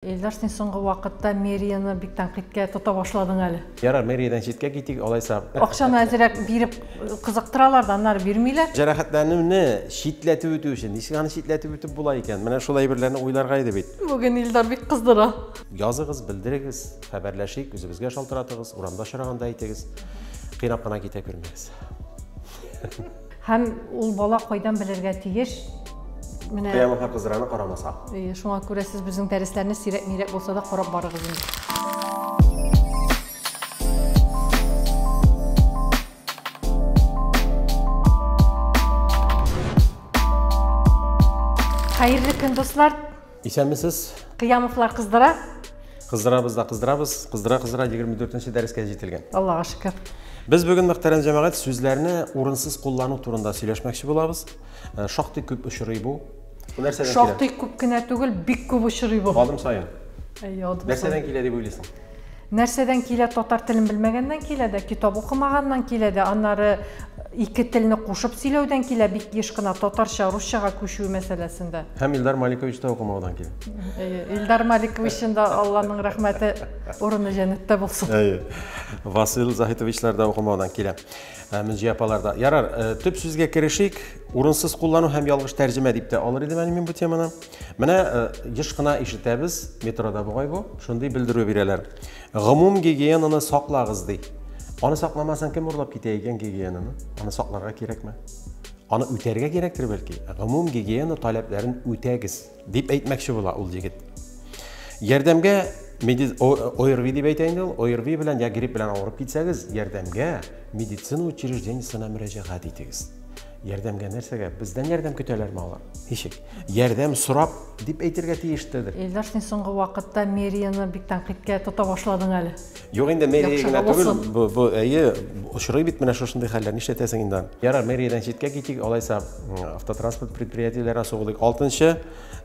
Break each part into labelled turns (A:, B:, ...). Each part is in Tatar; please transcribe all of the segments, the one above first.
A: Илдар, син соңгы вакытта мэрияны бик тәнкыйтькә тота башладың әле. Ярар, мэриядән читкә китик, алайса. Акчаны әзрәк биреп кызыктыралар да, аннары бирмиләр. Җәрәхәтләнүне читләтеп үтү өчен ничек аны читләтеп үтеп була икән? Менә шул әйберләрне уйларга иде бит. Бүген Илдар бик кыздыра. Языгыз, белдерегез, хәбәрләшик, үзебезгә шалтыратыгыз, урамда очраганда әйтегез. Кыйнап кына китә күрмәгез. Һәм ул бала кайдан белергә тиеш? Менә Кыямәткә кыздыраны карамаса. Э, шуңа күрә сез безнең дәресләрне сирәк-мирәк булса да карап барыгыз инде. Хәерле көн, дуслар! Исәнмесез. Кыямовлар кыздыра. Кыздырабыз да кыздырабыз. Кыздыра кыздыра 24-нче дәрескә җителгән. Аллага шөкер. Без бүген мөхтәрәм җәмәгать сүзләрне урынсыз куллану турында сөйләшмәкче булабыз. Э, шактый күп очрый бу. Бу нәрсәдән килә? Шактый күп кенә түгел, бик күп очрый бу. Адым саен. Әйе, адым саен. Нәрсәдән килә дип уйлыйсың? Нәрсәдән килә, татар телен белмәгәннән килә дә, китап укымаганнан килә дә, аннары ике телне кушып сөйләүдән килә, бик еш кына татарча русчага күчү мәсьәләсендә. Һәм Илдар Маликович та укымаудан килә. Әйе, Илдар Маликовичның да Алланың рәхмәте, урыны җәннәттә булсын. Әйе. Васил Заһитовичлар да укымаудан килә. Ә, Мөнҗи апалар да. Ярар, э, төп сүзгә керешик. Урынсыз куллану һәм ялгыш тәрҗемә дип тә алыр идем әле мин бу теманы. Менә э, еш кына ишетәбез, метрода бугай бу, шундый белдерү бирәләр. Гомум гигиенаны саклагыз ди. Аны сакламасаң кем урлап китә икән гигиенаны? Аны сакларга кирәкме? Аны үтәргә кирәктер бәлки. Гомум гигиена таләпләрен үтәгез, дип әйтмәкче була ул егет. Ярдәмгә медиз ОРВИ дип әйтә инде ул. ОРВИ белән я грипп белән авырып китсәгез, ярдәмгә медицина учреждениесенә мөрәҗәгать итегез. Ярдәмгә нәрсәгә? Бездән ярдәм көтәләрме алар? Ничек? Ярдәм сорап дип әйтергә тиештедер. Илдар, син соңгы вакытта мэрияны бик тәнкыйтькә тота башладың әле. Юк инде, мэрия генә түгел, бу, бу, әйе, очрый бит менә шушындый хәлләр, нишләтәсең инде аны. Ярар, мэриядән читкә китик, алайса автотранспорт предприятиеләренә сугылыйк. Алтынчы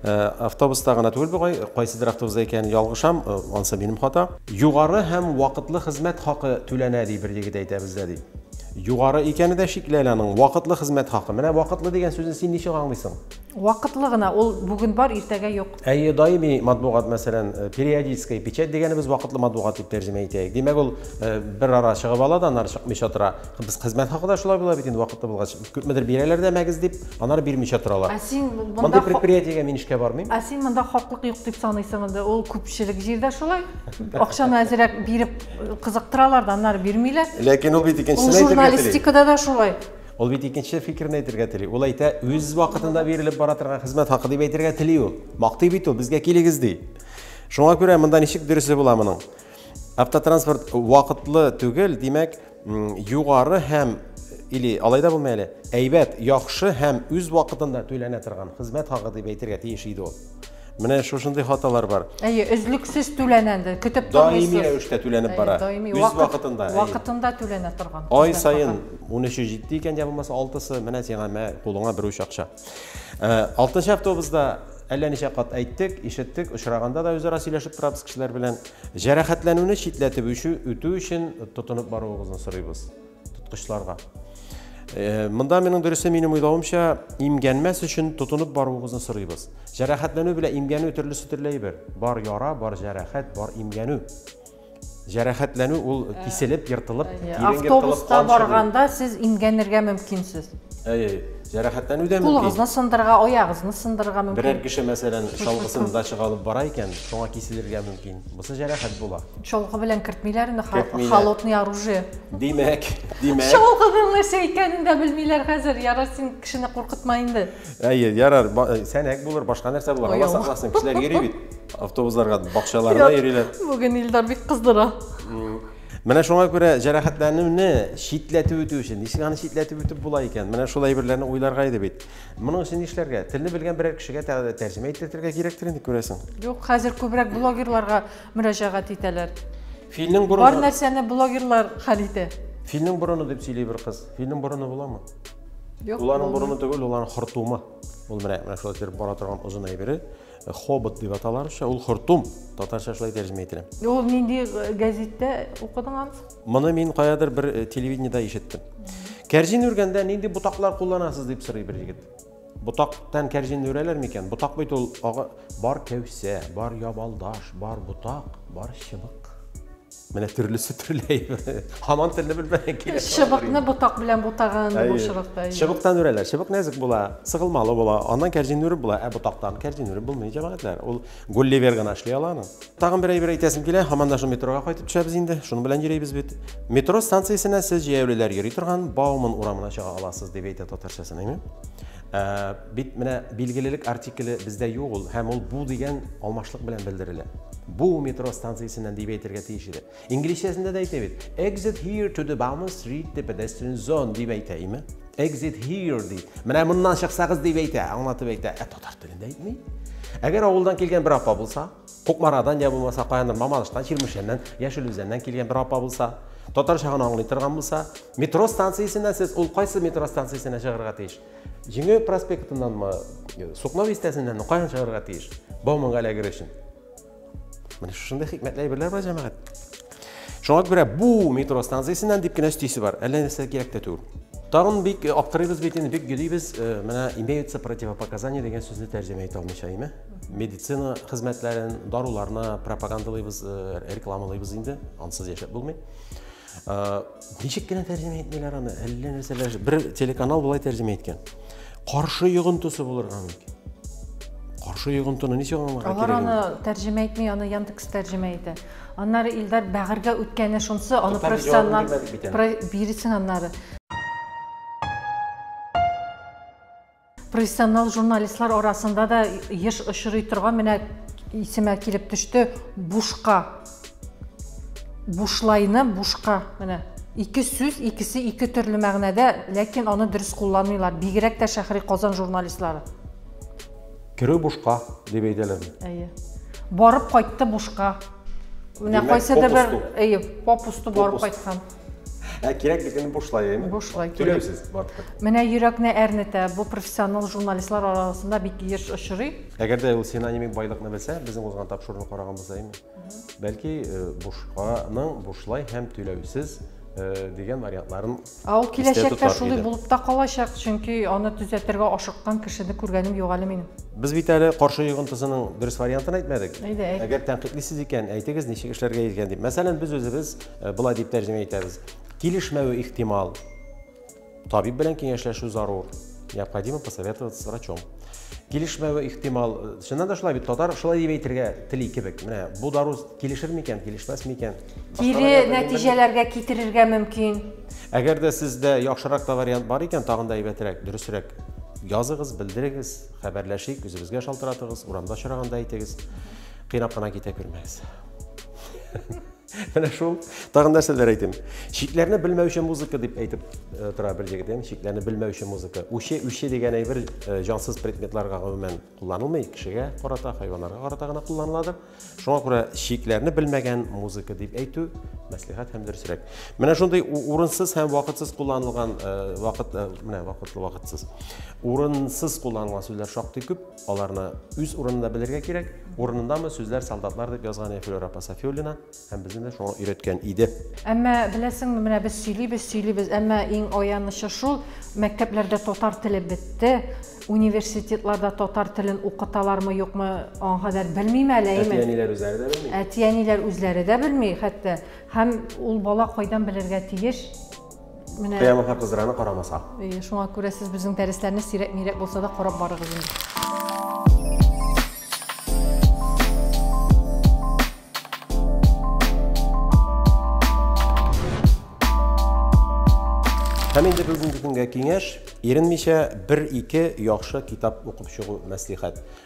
A: автобуста гына түгел бу, кайсыдыр автобуста икәнен ялгышам, анысы минем хата. Югары һәм вакытлы хезмәт хакы түләнә, ди бер егет әйтә бездә, ди. Югары икәне дә шикле әле аның. Вакытлы хезмәт хакы. Менә вакытлы дигән сүзне син ничек аңлыйсың? Вакытлы гына, ул бүген бар, иртәгә юк. Әйе, даими матбугат, мәсәлән, э, периодическая печать дигәнебез вакытлы матбугат дип тәрҗемә итәйек. Димәк, ул э, бер ара чыгып ала да, аннары чыкмыйча тора. Без хезмәт хакы да шулай була бит инде вакытлы булгач. Күпмедер бирәләр дә мәгез дип, аннары бирмичә торалар. Ә син монда Мондый предприятиегә мин эшкә бармыйм. Ә син монда хаклык юк дип саныйсың инде. Ул күпчелек җирдә шулай. Акчаны әзрәк биреп Кызыктыралар да, аннары бирмиләр. Ләкин ул бит икенчесен әйтергә тели. Ул журналистикада да шулай. Ул бит икенче фикерен әйтергә тели. Ул әйтә, үз вакытында бирелеп бара торган хезмәт хакы дип әйтергә тели ул. Мактый бит ул, безгә килегез ди. Шуңа күрә монда ничек дөресе була моның? Автотранспорт вакытлы түгел, димәк, югары һәм или алай да булмый әле, әйбәт, яхшы һәм үз вакытында түләнә торган хезмәт хакы дип әйтергә тиеш иде ул. Менә шушындый хаталар бар. Әйе, өзлексез түләнә инде, көтеп тормыйсыз. Даими рәвештә түләнеп бара. Даими үз вакытында. Вакытында түләнә торган. Ай саен 13-е җитте икән, я булмаса 6-сы, менә сиңа мә кулыңа бер уч акча. 6-нчы автобусда әллә ничә кат әйттек, ишеттек, очраганда да үзара сөйләшеп торабыз кешеләр белән. Җәрәхәтләнүне читләтеп үтү өчен тотынып баруыгызны сорыйбыз. Тоткычларга. Э, монда минем дөресе минем уйлавымча, имгәнмәс өчен тотынып баруыгызны сорыйбыз. Җәрәхәтләнү белән имгәнү төрлесе төрле бер. Бар яра, бар җәрәхәт, бар имгәнү. Җәрәхәтләнү ул э, киселеп, ертылып, Автобуста барганда сез имгәнергә мөмкинсез. Әйе, җәрәхәтләнү дә мөмкин. Кулыгызны сындырырга, аягызны сындырырга мөмкин. Берәр кеше, мәсәлән, чалгысын дачага алып бара икән, шуңа киселергә мөмкин. Бусы җәрәхәт була. Чалгы белән кертмиләр инде, холодный оружие. Димәк, димәк. Шул кызыллыша икәнен дә белмиләр хәзер. Ярар син кешене куркытма инде. Әйе, ярар, э, сәнәк булыр, башка нәрсә булыр. Алла сакласын, кешеләр йөри бит. Автобусларга, бакчаларына йөриләр. Бүген Илдар бик кыздыра. Менә шуңа күрә җәрәхәтләнүне читләтеп үтү өчен, ничек аны читләтеп үтеп була икән? Менә шул әйберләрне уйларга иде бит. Моның өчен нишләргә? Телне белгән берәр кешегә тәрҗемә иттерергә кирәктер инде күрәсең. Юк, хәзер күбрәк блогерларга мөрәҗәгать итәләр. Филнең борыны. Бар нәрсәне блогерлар хәл итә. Филнең борыны дип сөйли бер кыз. Филнең борыны буламы? Юк. Уланың борыны түгел, уланың хортумы. Ул менә менә шулай итеп бара торган озын әйбере. Э, хобот дип аталар ша, ул хортум. Татарча шулай тәрҗемә ителә. Ул нинди э, газеттә укыдың аны? Моны мин каядыр бер э, телевидениедә ишеттем. Кәрҗин үргәндә нинди ботаклар кулланасыз дип сорый бер егет. Ботактан кәрҗин үрәләр микән? Ботак бит ул ага... бар кәүсә, бар ябалдаш, бар ботак, бар чыбык. Менә төрлесе төрле. Хаман телне белмәгән килеш. Чыбыкны ботак белән бутаган бу чыбыкта. Чыбыктан үрәләр. Чыбык нәзек була, сыгылмалы була. Аннан кәрҗин үреп була, ә ботактан кәрҗин үреп булмый, җәмәгатьләр. Ул Гулливер гына эшли ала аны. Тагын бер әйбер әйтәсем килә, һаман да шул метрога кайтып төшәбез инде. Шуның белән йөрибез бит. Метро станциясенә сез җәяүлеләр йөри торган Бауман урамына чыга аласыз, дип әйтә татарчасын, әйме? Ә, бит менә билгелелек артикле бездә юк ул, һәм ул бу дигән алмашлык белән белдерелә. Бу метро станциясеннән дип әйтергә тиеш иде. Инглизчәсендә дә әйтә бит. Exit here to the Bauman Street the pedestrian zone дип әйтә, әйме? Exit here ди. Менә моннан чыксагыз дип әйтә, аңлатып әйтә. Ә татар телендә әйтми. Әгәр авылдан килгән бер апа булса, Кукмарадан я булмаса каяндыр Мамадыштан, Чирмешәннән, Яшел Үзәннән килгән бер апа булса, татарча гына аңлый торган булса, метро станциясеннән сез ул кайсы метро станциясенә чыгарга тиеш? Җиңү проспектыннанмы, Сукно бистәсеннәнме, каян чыгарга тиеш? Бауманга эләгер өчен. Менә шушындый хикмәтле әйберләр бар, җәмәгать. Шуңа күрә бу метро станциясеннән дип кенә өстисе бар. Әллә нәрсә кирәк тә түгел. Тагын бик э, аптырыйбыз бит инде, бик гөдибез. Э, менә имеются противопоказания дигән сүзне тәрҗемә итә алмыйча, әйме? Медицина хезмәтләрен, даруларны пропагандалыйбыз, э, рекламалыйбыз инде. Ансыз яшәп булмый. Ничек кенә тәрҗемә итмиләр аны, әллә нәрсәләр. Бер телеканал болай тәрҗемә иткән. Каршы йогынтысы булырга мөмкин. Каршы йогынтыны ничек аңларга кирәк? Алар аны тәрҗемә итми, аны Яндекс тәрҗемә итә. Аннары Илдар бәгырьгә үткәне шунсы, аны профессионал бирсен аннары. Профессионал журналистлар арасында да еш очрый торган менә исемә килеп төште бушка бушлайны бушка менә ике сүз икесе ике төрле мәгънәдә ләкин аны дөрес кулланмыйлар бигрәк тә шәһри казан журналистлары керү бушка дип әйтәләрме әйе барып кайтты бушка менә кайсыдыр бер әйе попусту барып кайткан Ә кирәк дигәнне бушлай, әйме? Бушлай кирәк. Түләүсез барыбер. Менә йөрәкне әрнетә, бу профессионал журналистлар арасында бик еш очрый. Әгәр дә ул синонимик байлыкны белсә, безнең узган тапшыруны караган булса, әйме? Бәлки э, бушканың бушлай һәм түләүсез э, дигән вариантларын Ә ул киләчәктә шулай булып та калачак, чөнки аны төзәтергә ашыккан кешене күргәнем юк әле минем. Без бит әле каршы йогынтысының дөрес вариантын әйтмәдек. Әйдә, әйт. Әгәр тәнкыйтьлисез икән, әйтегез, ничек эшләргә икән дип. Мәсәлән, без үзебез Э, болай дип тәрҗемә итәбез килешмәве ихтимал табиб белән киңәшләшү зарур необходимо посоветоваться с врачом килешмәве ихтимал э, чыннан да шулай бит татар шулай дип әйтергә тели кебек менә бу дару килешер микән килешмәс микән кире нәтиҗәләргә китерергә мөмкин әгәр дә сездә яхшырак та вариант бар икән тагын да әйбәтрәк дөресрәк языгыз белдерегез хәбәрләшик үзебезгә шалтыратыгыз урамда очраганда әйтегез кыйнап кына китә күрмәгез Менә шул. Тагын нәрсәләр әйтим. Чикләрне белмәүче музыка дип әйтеп э, тора бер җегет. Ем чикләрне белмәүче музыка. Үче, үче дигән әйбер э, җансыз предметларга гомумән кулланылмый, кешегә карата, хайваннарга карата гына кулланыладыр. Шуңа күрә чикләрне белмәгән музыка дип әйтү мәслихәт һәм дөресрәк. Менә шундый урынсыз һәм вакытсыз кулланылган э, вакыт менә вакытлы вакытсыз. Урынсыз кулланылган сүзләр шактый күп. Аларны үз урынында белергә кирәк. Урынындамы сүзләр солдатлар дип язган иде Флюра апа Сафиуллина һәм безне дә шуңа өйрәткән иде. Әмма беләсеңме, менә без сөйлибез, сөйлибез, әмма иң аянычы шул, мәктәпләрдә татар теле бетте, университетларда татар телен укыталармы, юкмы, аңа кадәр белмим әле, әйе. Әти-әниләр үзләре дә белми. Әти-әниләр үзләре дә белми, хәтта. Һәм ул бала кайдан белергә тиеш? Менә Кыямата кызыраны карамаса. Э, шуңа күрә сез безнең дәресләрне сирәк-мирәк булса да карап барыгыз инде. Һәм инде бүгенге көнгә киңәш, иренмичә бер-ике яхшы китап укып чыгу мәслихәт.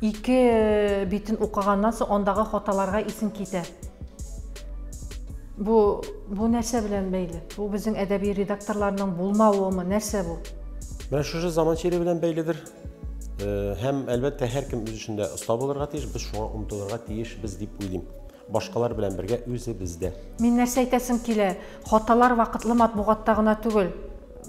A: Ике битен укыганнан соң андагы хаталарга исең китә. Бу бу нәрсә белән бәйле? Бу безнең әдәби редакторларның булмавымы? Нәрсә бу? Менә шушы заман чире белән бәйледер. Э, һәм әлбәттә һәркем үз эшендә оста булырга тиеш, без шуңа омтылырга тиешбез дип уйлыйм. Башкалар белән бергә үзебездә. Мин нәрсә әйтәсем килә? Хаталар вакытлы матбугатта гына түгел.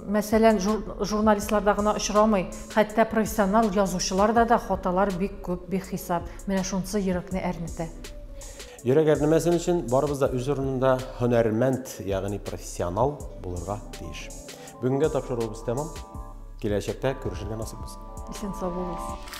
A: Мәсәлән, журналистларда гына очрамый, хәтта профессионал язучыларда да хаталар бик күп, бихисап. Менә шунысы йөрәкне әрнетә. Йөрәк әрнемәсен өчен барыбыз да үз урынында һөнәрмәнд, ягъни профессионал булырга тиеш. Бүгенгә тапшыруыбыз тәмам. Киләчәктә күрешергә насыйп булсын. Исән сау булыгыз.